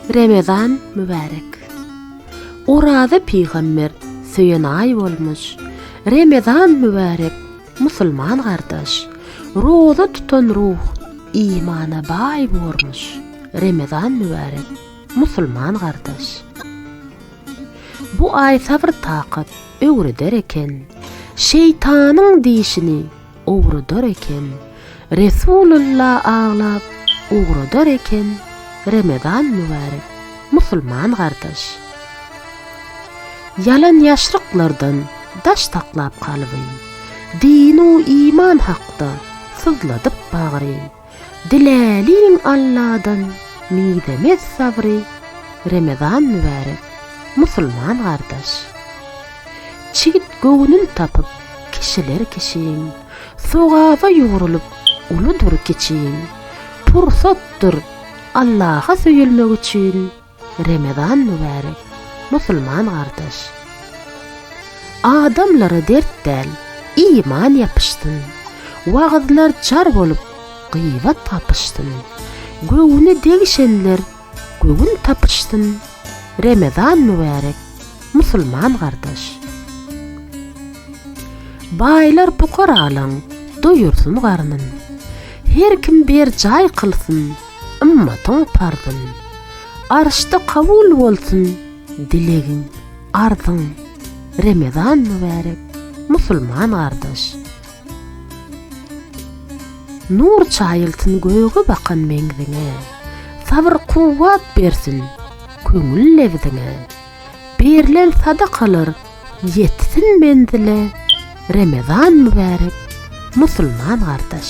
Remezan mübärek. Oraza pygamber söýen aý bolmuş. Remezan mübärek musulman gardaş. Roza tutan ruh imana baý bormuş. Remezan mübärek musulman gardaş. Bu aý sabr takat öwreder eken. Şeýtanyň dişini ugradar eken. Resulylla aglap ugradar eken, Remezan mübärek, musulman gardaş. Ýalan ýaşryklardan daş saklap kalby, Din-u iman hakda syzladyp bagry. Diläliň Alladan mizemez sabry Remezan mübärek musulman gardaş Çigit göwnün tapyp kişiler kişiň Sogaba ýugrulyp uludyr kiçiň Pursatdyr Allaha söýülmek üçin Remezan mübärek, musulman gardaş! Adamlara dert däl, iman ýapyşsyn, Wagyzlar jar bolup, gybat gapyşsyn, Göwni degişenler göwün tapyşsyn, Remezan mübärek, musulman gardaş! Baýlar pukaralaň doýursyn garnyn, Her kim berjaý kylsyn Ymmatyň parzyn. Arşda kabul bolsun dilegiň, arzyň. Remezan mübärek, musulman gardaş. Nur çaýylsyn göge bakan meňziňe, Sabyr-kuwwat bersin köňül lebziňe. Berlen sadakalar ýetsin menzile, Remezan mübärek, musulman gardaş.